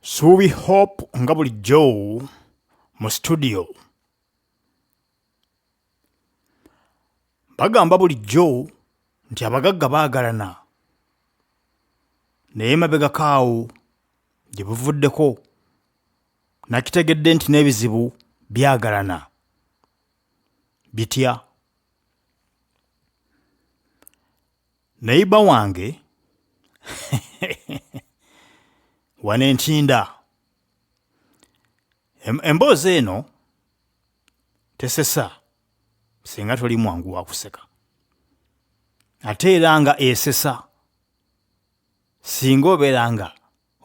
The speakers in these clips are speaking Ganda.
suubi hope nga bulijjo mu situdiyo bagamba bulijjo nti abagagga baagalana naye mabegako awo gye buvuddeko nakitegedde nti n'ebizibu byagalana bitya Neyiba wange wano entinda emboozi eno tesesa singa toli mwangu wakuseka ate era nga esesa singa obeera nga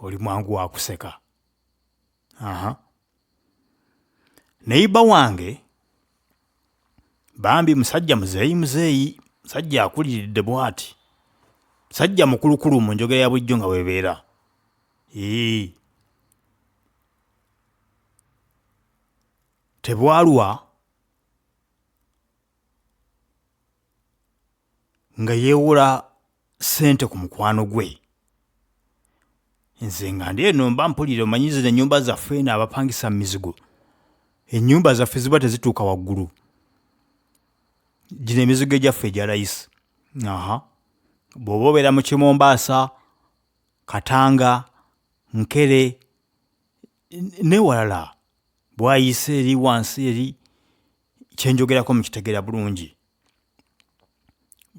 oli mwangu wakuseka aha neyiba wange bambi musajja muzeeyi muzeeyi musajja akuliridde bwati musajja mukulukulu mu njogera ya bulijjo nga webeera ee tebwalwa nga yeewola ssente ku mukwano gwe nze nga ndi eno mba mpulira omanyi zino ennyumba zaffe eno abapangisa mu mizigo ennyumba zaffe ziba tezituuka waggulu gino emizigo egyaffe egya layisi aha bw'oba obeera mu kimombaasa katanga nkere newalala bwayise eri wansi eri kyenjogerako mukitegeera bulungi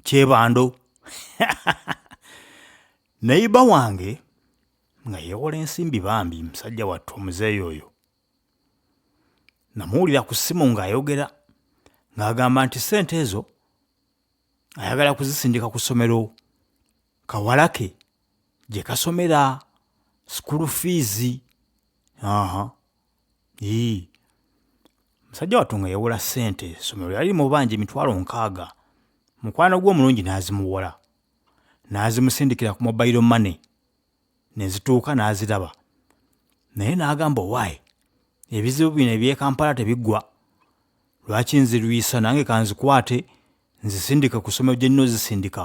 kyebando nayiba wange nga yewola ensimbi bambi musajja wattu omuzeeyi oyo namuwulira ku ssimu ng'ayogera ng'agamba nti ssente ezo ayagala kuzisindika ku ssomero kawalake gye kasomera sukulu fiizi aha yii musajja wattu nga yawola ssente essomero yali mubanja emitwalo nkaaga mukwano gwe omulungi n'azimuwola n'azimusindikira ku mobayiro mane ne zituuka n'aziraba naye n'agamba owaayi ebizibu bino ebyekampala tebiggwa lwaki nzirwisa nange kanzikwate nzisindike ku ssomero gye nnina ozisindika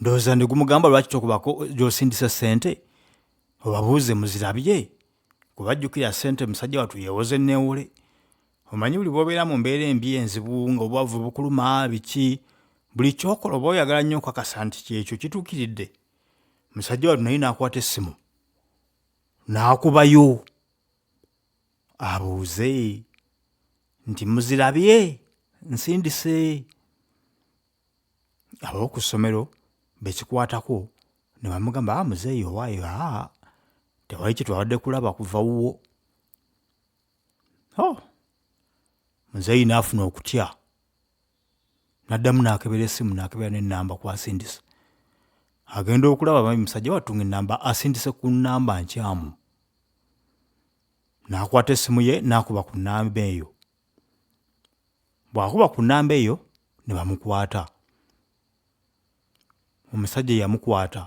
ndowooza ndi gumugamba lwaki tokubako gyosindisa sente obabuuze muzirabye kuba jjukira sente musajja watu yewoza enneewole omanyi buli bwobeera mu mbeera embi enzibu nga obwavu bukuluma biki buli kyokola oba oyagala nnyo okakasa nti kyekyo kituukiridde musajja watu naye n'akwata essimu n'akubayo abuuze nti muzirabye nsindise ab'oku ssomero be kikwatako ne bamugamba ah, muzeeyi owaayo aa tewali kye twabadde kulaba kuva wuwo oh, muzeeyi n'afuna okutya n'addamu n'akebera essimu n'akebera n'ennamba kwasindisa agenda okulaba mabi musajja wattu ng'ennamba asindise ku nnamba nkyamu n'akwata essimu ye n'akuba ku nnamba eyo bwakuba ku namba eyo ne bamukwata omusajja eyamukwata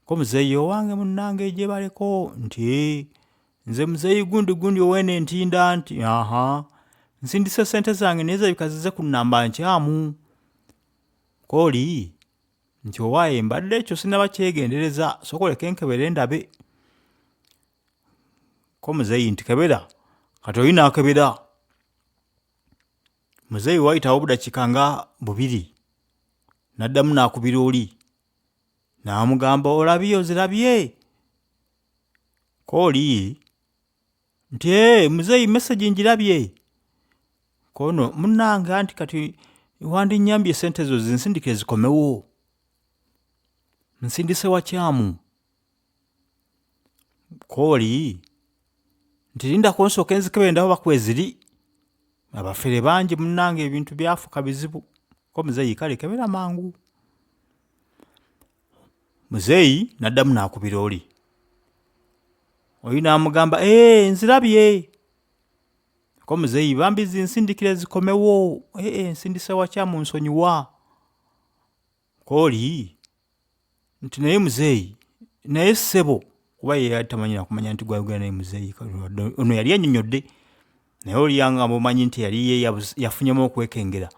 ko muzeeyi owange munnange gyebaleko nti "Eh, nze muzeeyi gundi gundi owene entinda nti aha nsindise sente zange naye zirabika zize ku namba nkyamu kooli nti owaaye mbadde ekyo sinaba kyegendereza soka oleke nkebere ndabe ko muzeeyi nti kebera kati oli nakebera muzeeyi wayitawo obudakika nga bubiri naddamu nakubira oli namugamba olabye ozirabye kooli nti ee muzeeyi mesagi njirabye kono munange anti kati wandinyambye sente ezo zinsindike zikomewo nsindise wakyamu kooli nti linda kunsooka enzikebe endawo bakweziri abafere bangi munange ebintu byafuka bizibu ko muzeeyi kale kebera mangu muzeeyi naddamu nakubira oli oyo namugamba ee eh, nzirabye ko muzeeyi bambi zinsindikira ezikomewo ee eh, eh, nsindise wakya munsonyiwa kooli nti naye muzeeyi naye ssebo kuba ye yali tamanyi nakumanya nti gwayogera naye muzeeyi ono yali anyonyodde naye oliyanga mumanyi nti yali ye yafunyemu okwekengera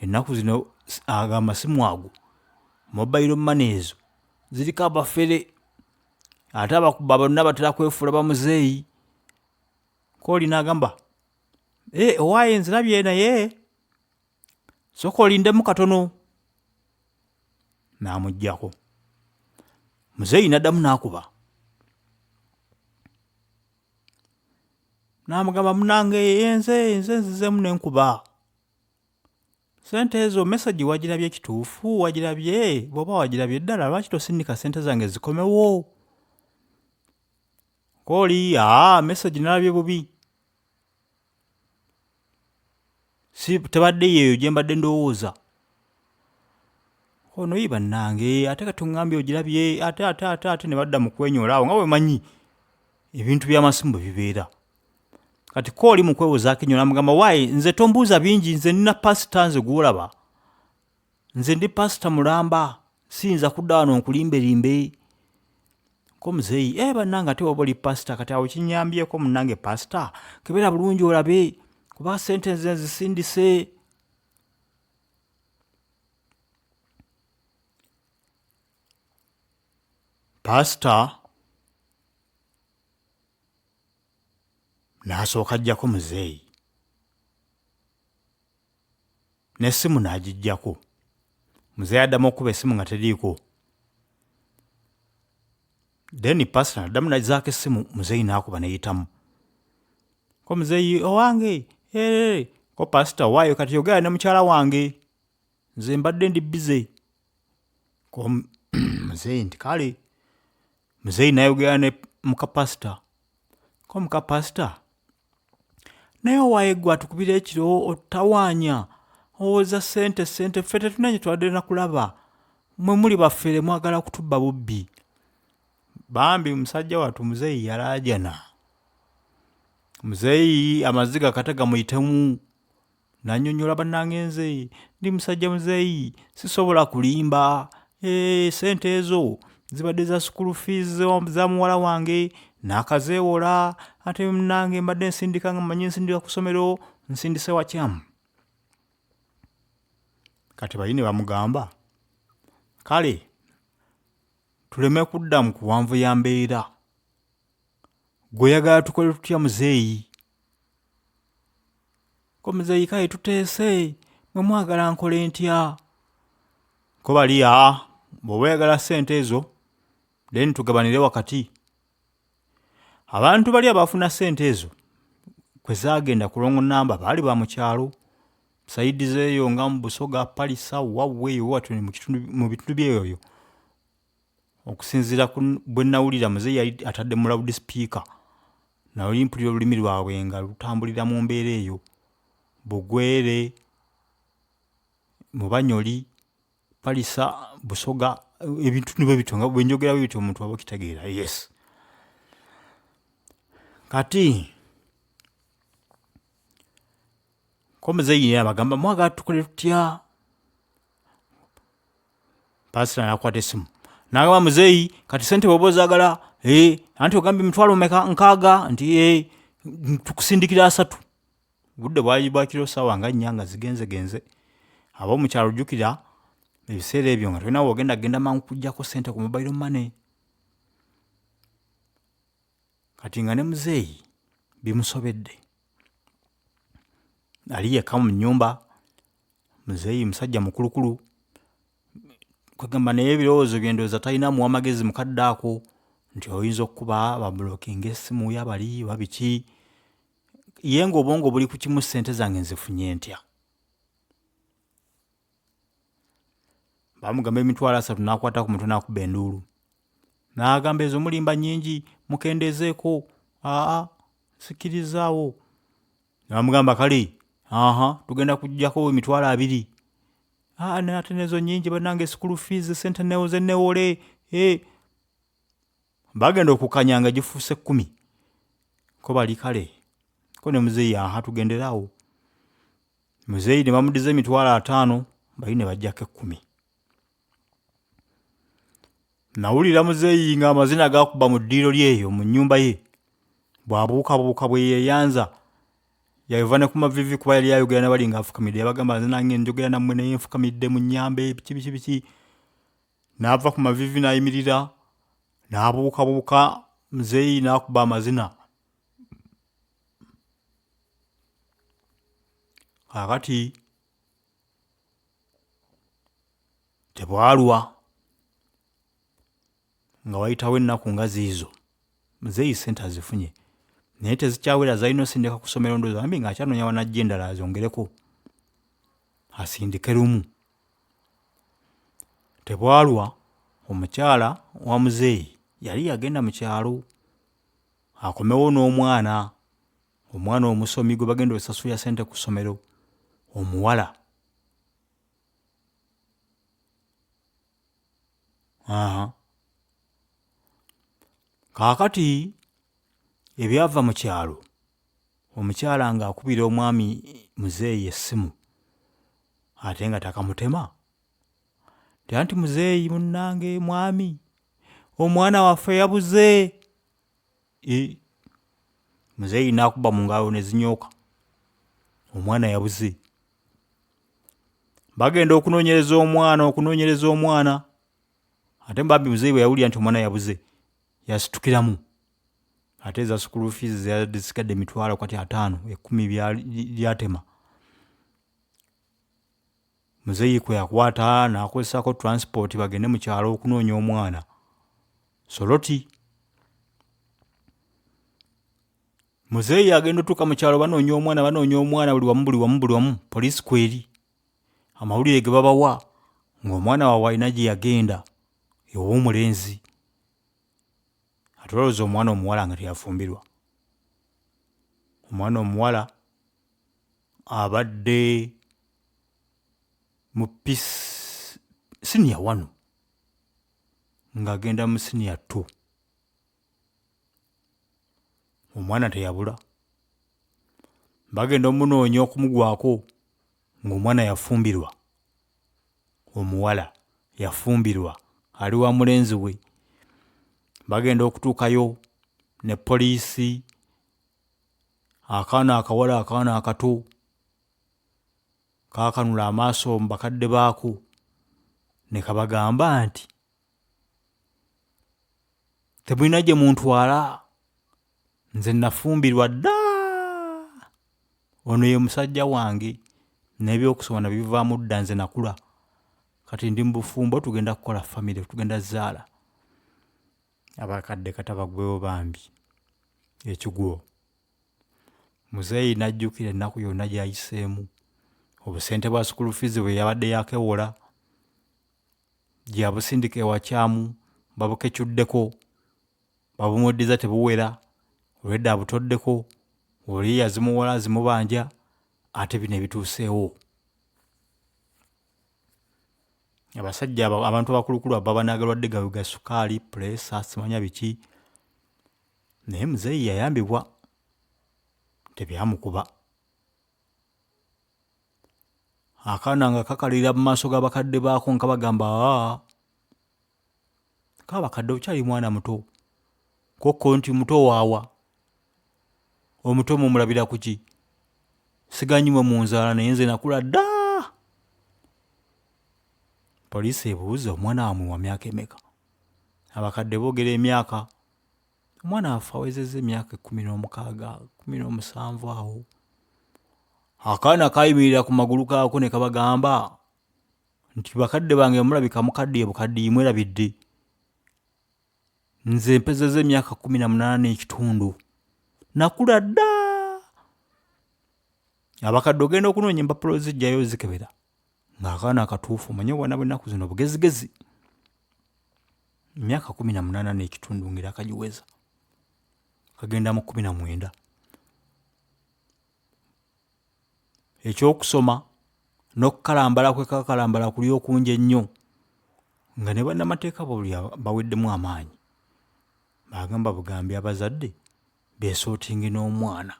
ennaku zino ago amasimu ago mobayiro mane ezo ziriko abafere ate abakuba bonna batera kwefuula bamuzeeyi kooli naagamba eh, owaaye nzirabye naye soka olindemu katono n'amugyako muzeeyi n'addamu n'akuba n'amugamba munange enze enze nzizemu nenkuba sente ezo mesagi wagirabye kituufu wagirabye bwoba wagirabye ddala lwaki tosindika sente zange zikomewo kooli aa mesagi nalabye bubi si tebadde yeeyo gye mbadde ndowooza ono yi bannange ate kati oŋambye ogirabye ate ate ate ate ne badda mu kwenyola awo nga bwe manyi ebintu by'amasimu bwe bibeera kati ko oli mu kwewozaako enyo namugamba waayi nze tombuuza bingi nze nina pasita nze gwolaba nze ndi pasita mulamba siyinza kudda wano nkulimbelimbe ko muzeeyi e eh, bannange ate waba oli pasita kati awo kinyambyeko munange pasita kebeera bulungi olabe kuba sente nze nzisindise pasita n'asooka ajjako muzeeyi n'essimu n'agiggyako muzeeyi addamu okukuba essimu nga teriiko then pasita naddamu nazaako essimu muzeeyi n'akuba neyitamu ko muzeeyi owange ee ko pasita waayo kati yogera ne mukyala wange nze mbadde ndi bize ko muzeeyi nti kale muzeeyi nayogera ne mukapasita ko mukapasita naye owaye gwe atukubira ekiro otutawaanya owoza sente sente ffe tetunanye twadde nakulaba mwe muli bafere mwagala kutubba bubbi bambi musajja wattu muzeeyi yalaajana muzeeyi amaziga kata gamuyitemu nanyonyola banange nze ndi musajja muzeeyi sisobola kulimba hey, sente ezo zibadde za school fees za muwala wange nakazeewola ate munange mbadde nsindika nga manyi nsindika ku ssomero nsindise wakyamu kati bayine bamugamba kale tuleme kudda mu kuwanvu ya mbeera gwe yagala tukole tutya muzeeyi komuzeeyi kale tuteese mwe mwagala nkole ntya ko bali aa bw'oba oyagala ssente ezo then tugabanire wakati abantu bali abafuna ssente ezo kwe zaagenda ku longo namba baali ba mu kyalo sayidi zeeyo nga mu busoga palisa wawweeyo watyo mu kitundu- mu bitundu byeyoyo okusinziira bwe nawulira muzeeyi yali atadde mu loud speaker naye mpulira olulimi lwabwe nga lutambulira mu mbeera eyo bugwere mubanyoli palisa busoga ebintu nibwe bityo nga bwenjogera bwe bityo omuntu aba okitegeera yes kati ko muzeeyi abagamba mwagala tukole tutya pasita nakwata esimu nagamba muzeeyi kati sente bwoba ozagala eh, anti ogambye mitwalo meka nkaaga nti eh, tukusindikira asatu budde bwali bwakiro saawa nga nnya nga zigenzegenze aba omukyalo ojjukira ebiseera ebyo nga tolina wogenda genda mangu kujjako sente ku mobile money kati nga ne muzeeyi bimusobedde ali yekka mu nyumba muzeeyi musajja mukulukulu kwegamba naye ebirowoozo byendowooza talina muwa magezi mukadde ako nti oyinza okukuba babulokinga essimu yabali oba biki ye nga obwongo buli ku kimu ssente zange nzifunye ntya bamugamba emitwalo asatu nakwata ku mutwe nakuba enduulu nagamba ezo mulimba nyingi mukendeezeeko aa sikirizaawo namugamba kale aha tugenda kujjako emitwalo abiri ah, ate nezo nyingi banange school fees sente newoze newole eh. bagenda okukanya nga gifuuse kumi ko bali kale ko ne muzeeyi aha tugenderawo muzeeyi ne bamudiza emitwalo ataano bali ne bajjako ekkumi Nawulira muzeeyi ng'amazina gakuba mu ddiiro lye eyo mu nnyumba ye, bw'abuukabuuka bwe yeeyanza. Yava ne ku maviivi kuba yali ayogera na bali ng'afukamidde, yabagamba nze nange njogera nammwe naye nfukamidde munnyambe biki biki biki. N'ava ku maviivi n'ayimirira n'abuukabuuka muzeeyi n'akuba amazina. Kaakati tebwalwa nga wayitawo ennaku nga ziizo muzeeyi sente azifunye naye tezikyawera zalina osindika ku ssomero ndozi ambi nga akyanoonya wanajja endala azongereko asindike lumu tebwalwa omukyala wa muzeeyi yali yagenda mu kyalo akomewo n'omwana omwana omusomi gwe bagenda osasulira sente ku ssomero omuwala aha kaakati ebyava mu kyalo omukyala ng'akubira omwami muzeeyi essimu ate nga takamutema tya nti muzeeyi munnange mwami omwana waffe yabuze muzeeyi nakuba mu ngalo ne zinyooka omwana yabuze bagenda okunoonyereza omwana okunoonyereza omwana ate bambi muzeeyi bwe yawulira nti omwana yabuze yasitukiramu ate eza sukulu fiizi zisigadde emitwalo kati ataano ekkumi byali- lyatema muzeeyi kwe yakwata n'akozesako transport bagende mu kyalo okunoonya omwana soloti muzeeyi agenda otuuka mu kyalo banoonya omwana banoonya omwana buli wamu buli wamu buli wamu poliisi kweri amawulire ge babawa ng'omwana waabwe alina gye yagenda ew'omulenzi ate olowooza omwana omuwala nga teyafumbirwa omwana omuwala abadde mu siniya wanu ng'agenda mu siniya ttu omwana teyabula bagenda omunoonya okumugwako ng'omwana yafumbirwa omuwala yafumbirwa ali wa mulenzi we bagenda okutuukayo ne poliisi akaana akawala akaana akato kaakanula amaaso mu bakadde baako ne kabagamba nti temulina gye muntwala nze nafumbirwa dda ono ye musajja wange n'ebyokusoma nabivaamu dda nze nakula kati ndi mu bufumbo tugenda kukola famire tugenda zaala abakadde kata bagwewo bambi ekigwo muzeeyi n'ajjukira ennaku yonna gy'ayiseemu obusente bwa sukulu fiizi bwe yabadde yakewola gyabusindika ewakyamu babukecuddeko babumuddiza tebuwera olwedda abutoddeko oli yazimuwola azimubanja ate bino ebituuseewo abasajja abantu abakulukulu ababa nagalwadde gawe ga sukaali pulesa simanya biki naye muzeeyi yayambibwa tebyamukuba akaana nga kakalira mu maaso g'abakadde baako nga bagamba aa kaba kadde okyali mwana muto kokko nti muto waawa omuto mumulabira kuki siganyi mwe munzaala naye nze nakula dda poliisi ebuuza omwana wamwe wa myaka emeka abakadde boogera emyaka omwana waffe awezezza emyaka ekkumi n'omukaaga kumi n'omusanvu awo akaana kayimirira ku magulu gaako ne kabagamba nti bakadde bange mulabika mukaddiye bukaddiyi mwerabidde nze mpezeza emyaka kumi na munaana n'ekitundu nakula dda abakadde ogenda okunoonya empapula ozijjayo ozikebera ng'akaana akatuufu omanye obwana bwennaku zino bugezigezi emyaka kumi na munaana n'ekitundu ngera akagiweza kagenda mu kumi na mwenda eky'okusoma n'okukalambala kwe kakalambala kuli okungi ennyo nga ne bannamateeka buli baweddemu amaanyi bagamba bugambi abazadde beesootinge n'omwana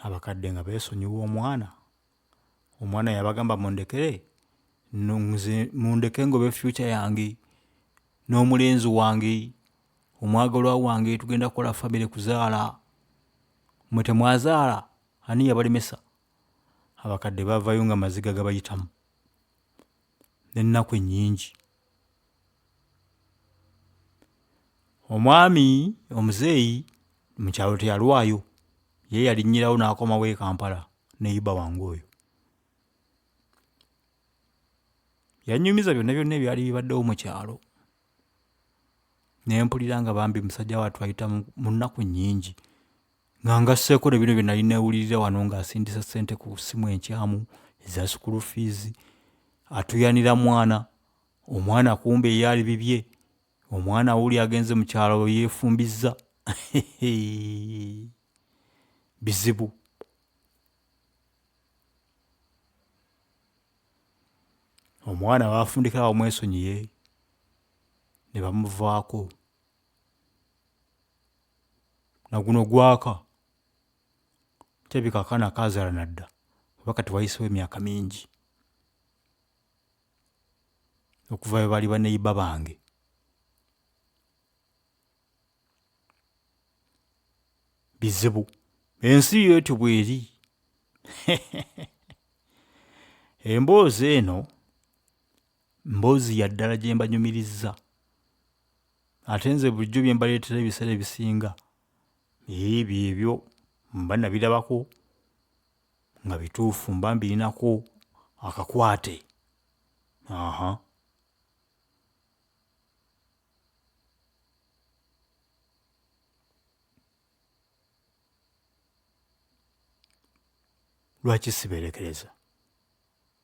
abakadde nga beesonyiwa omwana omwana yabagamba mundekere nze mundeke ngobe future yange n'omulenzi wange omwagalwa wange tugenda kukola famire kuzaala mwe temwazaala ani yabalemesa abakadde bavayo nga amaziga gabayitamu. n'ennaku ennyingi. Omwami omuzeeyi mu kyalo teyalwayo, ye yalinnyirawo n'akomawo e Kampala ne Iba wange oyo. Yannyumiza byonna byonna ebyali bibaddewo mu kyalo ne mpulira nga bambi musajja wattu ayita mu nnaku nnyingi Nga ngasseeko ne bino bye nali neewulirira wano ng'asindisa ssente ku ssimu enkyamu eza sukulu fiizi, atuyanira mwana, omwana kumbe ye ali bibye, omwana wuuli agenze mu kyalo yeefumbizza. Bizibu. Omwana baafundikira awo mwesonyiye ne bamuvaako. na guno gwaka kirabika akaana kaazaala na dda kuba kati wayiseewo emyaka mingi okuva lwe baali baneiba bange. Bizibu, ensi yo etyo bw'eri. Emboozi eno Mboozi ya ddala gye mbanyumirizza ate nze bulijjo bye mbaleetera ebiseera ebisinga ebyo ebyo mba nabirabako nga bituufu mba mbirinako akakwate aha lwaki siberekereza